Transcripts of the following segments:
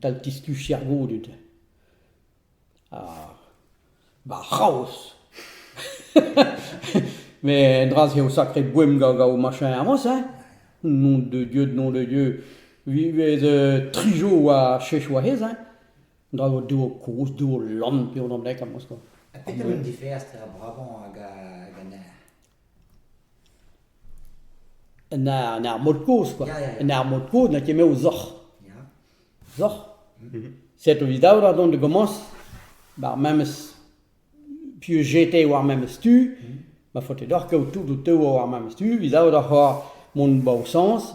tal tistuc'h ar goudud. Ha va c'haoz! Mais un dra-se eo sacré boem gant ho machin Amos, hein? Nom de Dieu, nom de Dieu. Vi vez euh, trijo war chech war hez, hein? Dra eo de ho koz, de ho lann, pe ho namek, Amos, quoi. Ha petra un diferañ tra bravañ hag a- hag an eñ? Un ar- un armod kozh kwa, un armod kozh n'eo ket me o zoc'h. Zoc'h, setu evit daou ora dont da gomañs, ba'r memes piv jete war memes tu, ma faote deoc'h kaout tout ho teu war memes tu, evit daou ora c'hoazh mont 'ba ho sañs.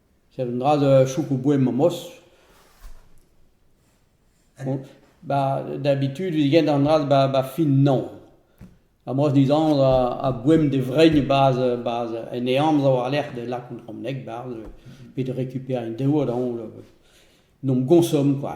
Seurt un dra da choukoù boem amos. Ba d'habitude evit gent an dra ba ba fin naon. Amos dizanv a boem d'e vrein bas bas en e amzer war-lerc'h da lakaout an bronneg barzh pe da rekuperiñ dev da hoñl. N'hom goñsom kwa.